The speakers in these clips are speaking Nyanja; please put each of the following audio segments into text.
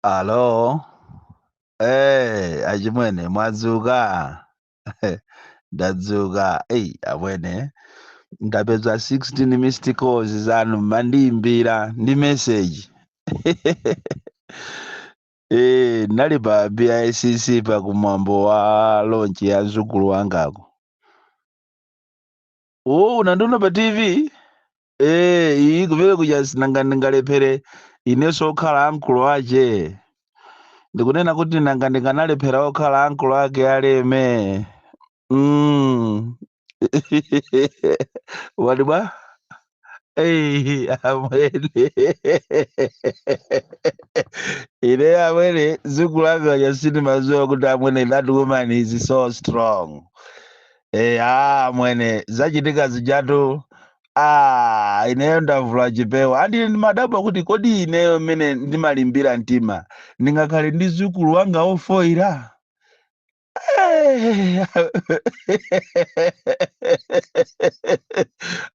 Alo, eh, achimwene mwadzuka? Ndadzuka. Ei, amwene ndapeza 16 missed calls zanu mumandiimbira ndi message. Eh, ndinali pa BICC pa kumwambo wa launch ya mzukulu wangako. Oh, unandiona pa TV? Eh, iyi kumene kuja sinanga ndingalephere inenso okhala ankolo ache ndikunena kuti nanga ndikanalephera okhala ankolo ake aleme mm. wati bwa Ei, amwene ine amwene mzukulu wanga uja sindimadziwa kuti amwene that woman is so strong Eh, amwene zachitika zijatu ah, ineyo ndavula chipewa ah ndiye ndimadabwa kuti kodi ineyo mmene ndimalimbira mtima ndingakhale ndi mzukulu wanga ofoira Eh,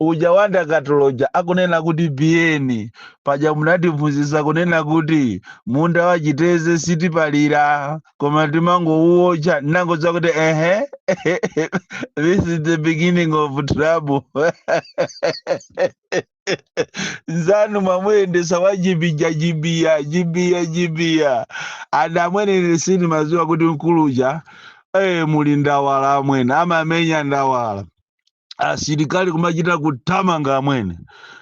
uja wa ndakatulo uja akunena kuti Biyeni paja munatiphunzitsa kunena kuti munda wa chitedze sitipalira koma timangouwotcha ndinangodziwa kuti ehe this is the beginning of trouble nzanu mwamuyendetsa wa jibija jibiya jibiya jibiya ada amwene ine sindimadziwa kuti mkuluja eh muli ndawala amwene amamenya ndawala asilikali kumachita kuthamanga amwene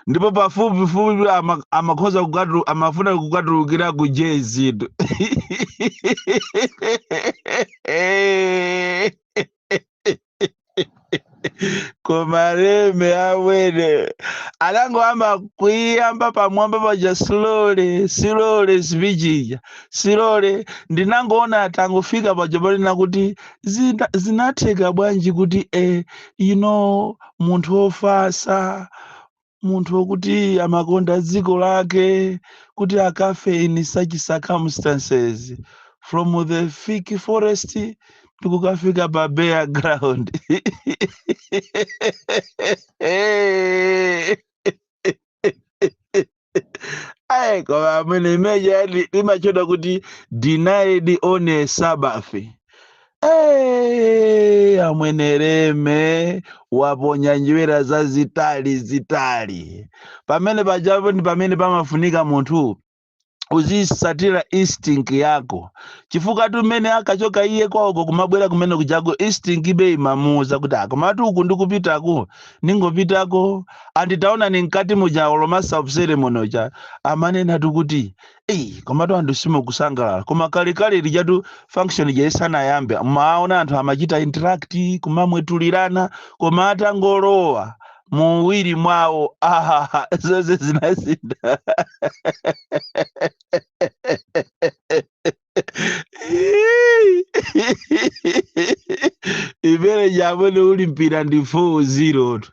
ndipo pafupifupi ama- amakhoza kukatu- amafuna kukatulukira ku jezito koma leme amwene anangoyamba kuyamba pamwamba paja slowly slowly speech ija slowly ndinangoona atangofika paja panena kuti zina- zinatheka bwanji kuti eh, you know munthu wofasa munthu wokuti amakonda dziko lake kuti akafe in such circumstances from the thick forest ndikukafika pa bare ground ayi koma amwene imeja li- limatchedwa kuti denied on a sabbath Hey, amwene leme waponya njerwa zazitali zitali pamene pajapo ndi pamene pamafunika munthu uzitsatira instinct yako chifukwatu mmene ankachoka iye kwawoko kumabwera kumene kujako instinct ibe imamuuza kuti ah komatu uku ndikupitaku ningopitako andi taonani mkati muja olo master of ceremony uja amanenatu kuti eyi komatu anthu simukusangalala koma kalekale lijatu function ija isanayambe maona anthu amachita interact kumamwetulirana koma atangolowa muwiri mwawo ahaha zonse zinasintha imene ija amwene uli mpira ndi 4-0 tu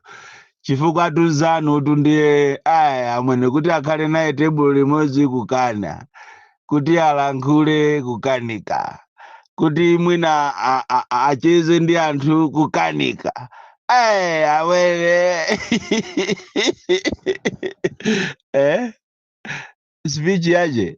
chifukwa tunzanu tu ndiye aya amwene kuti akhale naye tebulo limodzi kukana kuti alankhule kukanika kuti mwina a- a- a- acheze ndi anthu kukanika Eh, amwene speech yache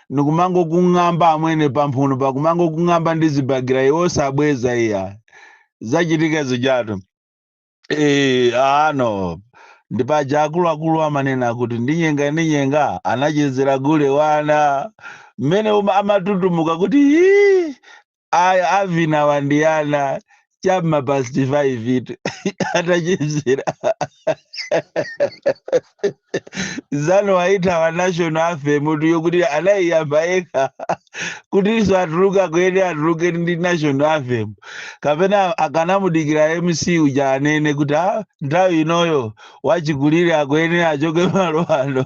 ndikumangokung'amba amwene pamphunopa kumangokung'amba ndi zibakera iwe osabweza iya zachitika zijatu Eh, ano ndipaja akuluakulu amanena kuti ndinyenga ndinyenga anachezera gule wa ana mmene uma- amatutumuka kuti "Hii, aya avinawa ndi ana chamma past 5 itu atachezera nzanu wayithawa national anthem kuti yokuti anaiyamba yekha kutinso atuluka akuyenera atuluke ndi national anthem kapena akanamudikira mc uja anene kuti "Ah, nthawi inoyo wachikulire akuyenera achoke malo ano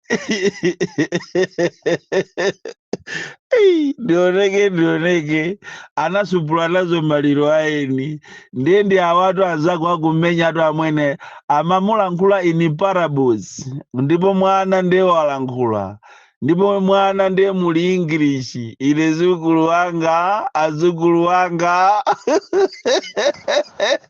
Ei, ndioneke ndioneke anasupula nazo maliro a eni ndiye ndi awatu anzako akumenyatu amwene amamulankhula in parables ndipo mwana ndiye walankhula ndipo mwana ndiye muli english ine mzukulu wanga azukulu wanga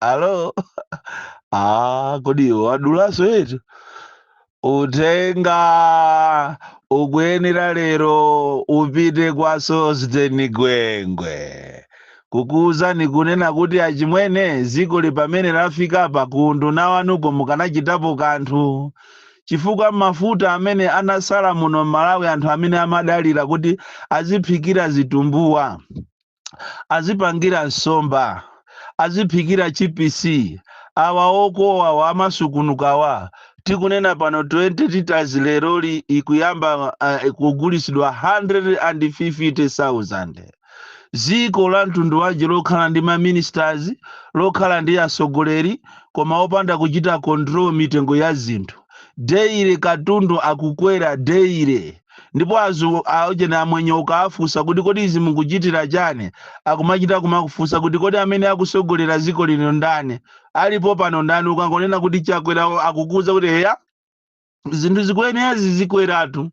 alo ah, kodi iwe wadulanso yetu uthenga ukuyenera lero upite kwa Sosten Gwengwe kukuwuzani kunena kuti achimwene dzikoli pamene lafikapa ku unduna wanuko mukanachitapo kanthu chifukwa mafuta amene anatsala muno m'malawi anthu amene amadalira kuti aziphikira zitumbuwa azipangira nsomba aziphikira chipisi awa okowawa amasungunukawa tikunena pano 20 liters leroli ikuyamba uh, kugulitsidwa 150,000 dziko la mtundu wanji lokhala ndi maministers lokhala ndi atsogoleri koma opanda kuchita control mitengo ya zinthu daily katundu akukwera daily ndipo awa aujeni amwenye ukaafunsa kuti kodi izi mukuchitira chani akumachita kumakufunsa kuti kodi amene akusogolera ziko lino ndani alipo pano ndani ukangonena kuti chakwera akukuuza kuti eya zinthu zikuyenera zizikweratu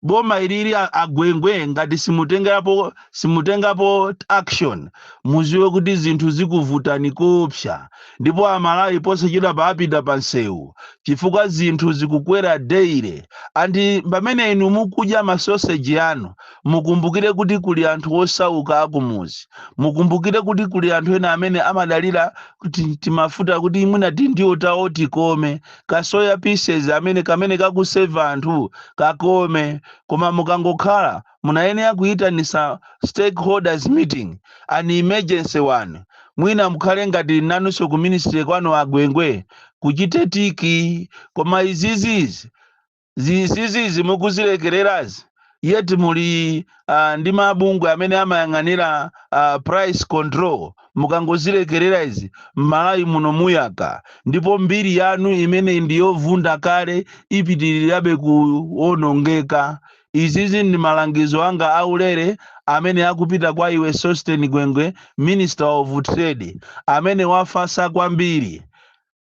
boma ilili agwengwe ngati simutengerapo simutengapo action muziwe kuti zinthu zikuvutani koopsa ndipo amalawi posachedwapa apita pansewu chifukwa zinthu zikukwera daily and pamene inu mukudya ma sausage anu mukumbukire kuti kuli anthu osauka akumuzi mukumbukire kuti kuli anthu ena amene amadalira kuti timafuta kuti mwina tindiwo tawo tikome kasoya pieces kamene kamene kakuseva anthu kakome koma mukangokhala munayenera kuyitanisa stakeholders meeting, an emergency one, mwina mukhale ngati nanuso ku ministry kwanu a Gwengwe kuchite tiki koma izizi izizi mukuzilekelerazi yet muli uh, ndi mabungwe amene amayang'anira uh, price control mukangozilekelera izi mMalawi muno muyaka ndipo mbiri yanu imene ndiyovunda kale ipitirirabe kuonongeka Izizi ndi malangizo anga a ulere amene akupita kwa iwe Sosten Gwengwe, Minister of Trade, amene wafasa kwambiri.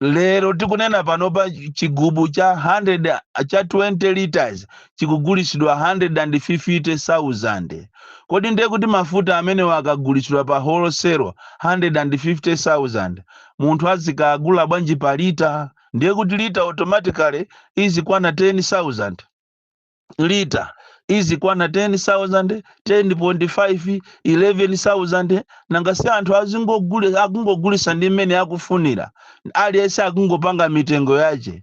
Lero tikunena panopa chigubu cha 20 litres chikugulisidwa 150,000. Kodi ndiye kuti mafuta amenewa akagulisidwa pa wholesale 150,000, munthu azikagula bwanji pa litre? Ndiye kuti litre automatically izikwana 10,000. lita izikwana 10,000 10.5 11,000 nanga si anthu akungogulisa ndi mmene akufunira aliyense akungopanga mitengo yache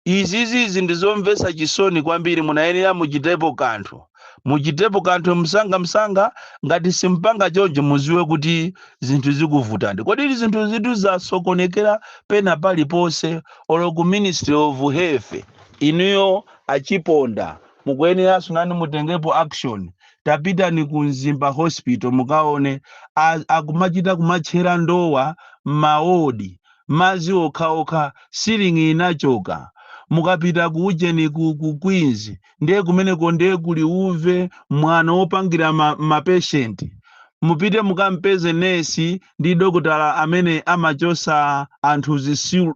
izizizi ndizomvesa chisoni kwambiri munayenera muchitepo kanthu muchitepo kanthu msanga msanga ngati simpanga choncho muziwe kuti zinthu zikuvutani kodi zinthu izitu zasokonekera pena paliponse olo ku ministry of health inuyo Achiponda mukuyeneranso nanu mutengepo action tapitani ku mzimba hospital mukaone a akumachita kumatchera ndowa mma ward madzi okhaokha ceiling inachoka mukapita ku ujeni ku ku queens nde kumeneko nde kuli uve mwano opangira ma ma patient mupite mukampeze nesi ndi dokotala amene amachosa anthu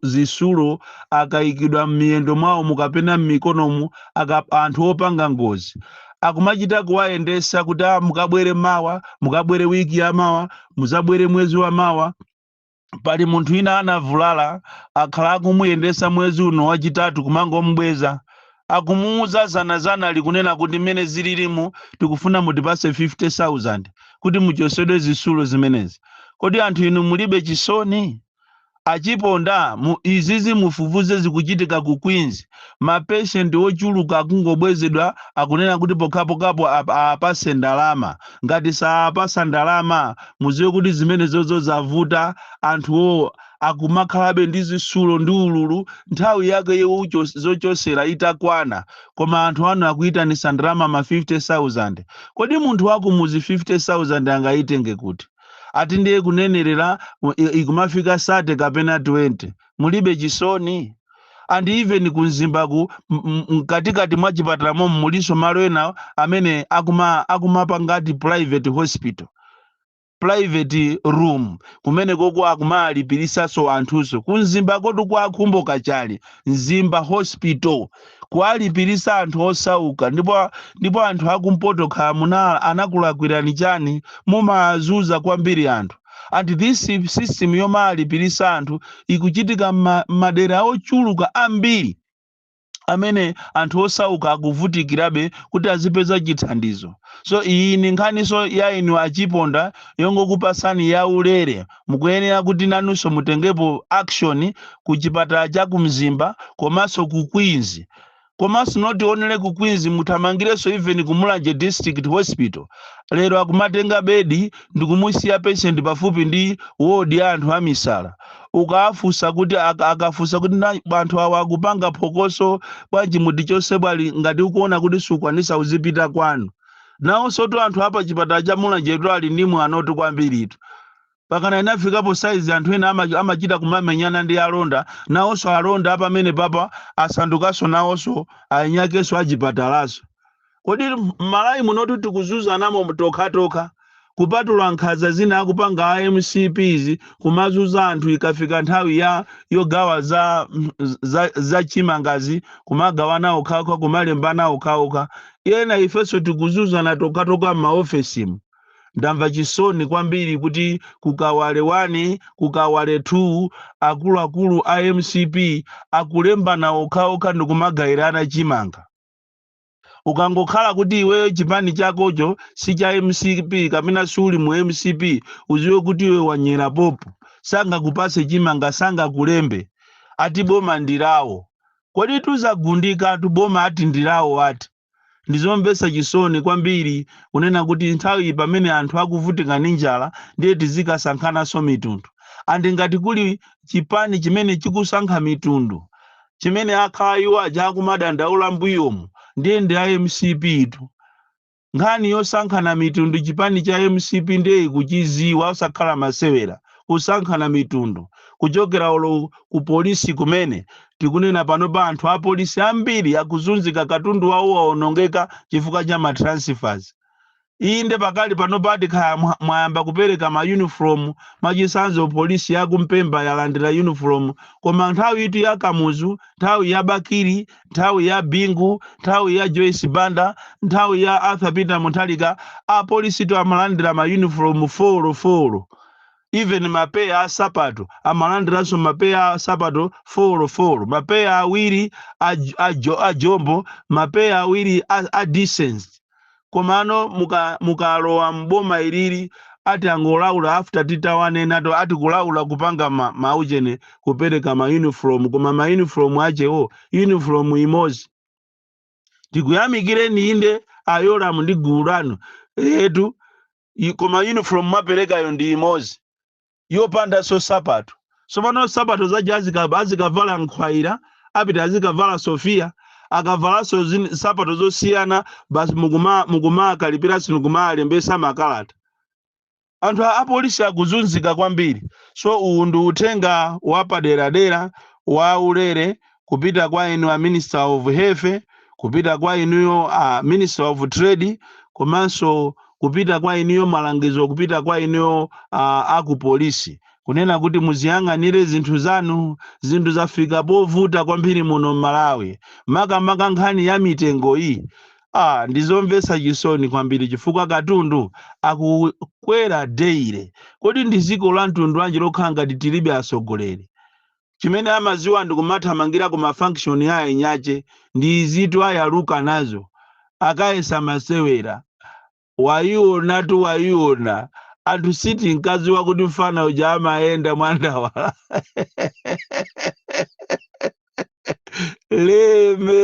zisulo akaikidwa m'miyendo mwawomu kapena m'mikonomu anthu opanga ngozi akumachita kuwayendesa kuti "Ah, mukabwere mawa mukabwere wiki ya mawa muzabwere mwezi wa mawa pali munthu ina anavulala akhala akumuyendesa mwezi uno wachitatu kumangomubweza akumuuza zanazana likunena kuti mmene zililimu tikufuna mutipase 50000 kuti muchosedwe zisulo zimenezi kodi anthu inu mulibe chisoni achiponda izizi mufufuze zikuchitika ku queens mapeshenti ochuluka akungobwezedwa akunena kuti pokhapokhapo ap- apase ndalama ngati sawapasa ndalama muziwe kuti zimene zozo zavuta anthuwo akumakhalabe ndi zisulo ndi ululu nthawi yake yowucho- zochosera itakwana koma anthu anu akuyitanisa ndalama ma 50000 kodi munthu wakumuzi 50000 angayitenge kuti ati ndiye kunenerera u- i- ikumafika 30 kapena 20 mulibe chisoni and even kumzimbaku m- m- mkatikati mwa chipatala momo mulinso malo ena amene akuma akumapanga ati private hospital private room kumene koko akumawalipirisaso anthuso kumzimba kotu kwa akhumbo kachali mzimba hospital kuwalipirisa anthu osauka ndipo ndipo anthu akumpoto khala munala anakulakwirani chani mumawazuza kwambiri anthu and this system yomawalipirisa anthu ikuchitika mma- mmadera ochuluka ambiri amene anthu osauka akuvutikirabe kuti azipeza chithandizo so iyi ndi nkhaniso ya inu achiponda yongokupasani ya ulere mukuyenera kuti nanunso mutengepo action ku chipatala cha ku mzimba komanso ku queens komanso not only ku queens muthamangirenso even ku mulanje district hospital lero akumatenga bedi ndikumusiya patient pafupi ndi ward ya anthu amisala ukawafunsa kuti aka- akafunsa kuti anthu awa akupanga phokoso bwanji mutichose bwanji ngati ukuona kuti sukwanisa uzipita kwanu nawonsotu anthu apa chipatala cha mulanjetu ali ndi mwanotu kwambiritu pakana inafikapo saizi anthu ena ama- amachita kumamenyana ndi alonda nawonso alonda apamene papa asandukanso nawonso ainyakenso achipatalaso Kodi mmalawi munotu tikuzuzanamo tokhatokha kupatula nkhaza zina akupanga a mcp izi kumawazuza anthu ikafika nthawi ya yogawa za za za chimangazi kumagawana okhaokha kumalembana okhaokha ena ifeso tikuzuzana tokhatokha mma ofesimu ndamva chisoni kwambiri kuti ku kawale 1 ku kawale 2 akuluakulu a mcp akulembana okhaokha ndikumagairana chimanga. ukangokhala kuti iweyo chipani chakocho si cha mcp kapena siuli mu mcp uziwe kuti iwe wanyera popo sangakupase chimanga sangakulembe ati boma ndirawo kodi tuzagundika atu boma ati ndirawo ati ndizomvesa chisoni kwambiri kunena kuti nthawi iyi pamene anthu akuvutika ndi njala ndiye tizikasankhananso mitundu and ngati kuli chipani chimene chikusankha mitundu chimene akhala iwo aja akumadandaula mbuyomu ndiye ndi a mcp tu nkhani yosankhana mitundu chipani cha mcp ndiye ikuchidziwa osakhala masewera kusankhana mitundu kuchokera olo ku polisi kumene tikunena pano pa anthu apolisi ambiri akuzunzika katundu wawo waonongeka chifukwa cha matransfers Inde pakali panopadi kaya mwayamba kupereka ma uniform mwachisanzo police yaku mpemba yalandira uniform koma nthawi itu ya kamuzu nthawi ya bakili nthawi ya bingu nthawi ya joyce banda nthawi ya arthur peter muthalika apolisi itu amalandira ma uniform folo folo even mapeya a sapato amalandiranso mapeya a sapato folo folo mapeya awiri a, a, jo, a jombo mapeya awiri a, a decent komano muka mukalowa m'boma ilili ati angolaula after titawanena to ati kulaula kupanga ma, maujeni kupereka ma uniform koma ma uniform achewo uniform imodzi tikuyamikireni inde a yolamu ndi gulu lanu eetu i- koma uniform mwaperekayo ndi imodzi yopandanso nsapato tsopano nsapato zaja azika- azikavala nkhwaira apita azikavala sofiya akavalanso zin- nsapato zosiyana basi mukuma- mukumakalipira si mukumalembesa makalata anthu a apolisi akuzunzika kwambiri so uwu ndi uthenga wapaderadera wa ulere kupita kwa inu a minister of health kupita kwa inuyo a minister of trade komanso kupita kwa inuyo malangizo kupita kwa inuyo a, a ku polisi kunena kuti muziyang'anire zinthu zanu zinthu zafika povuta kwambiri muno m'malawi makamaka nkhani ya mitengo iyi ah, ndizomvetsa chisoni kwambiri chifukwa katundu akukwera deire kodi ndi dziko la mtundu wanji lokhala ngati tilibe atsogoleri chimene amaziwa ndikumathamangira ku ma function a enyache ndi izitu ayaluka nazo akayesa masewera wayionatu wayiona anthu sitinkaziwa kuti mfana uja amayenda mwandawala lime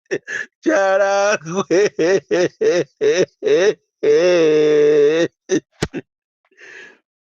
Charangwe.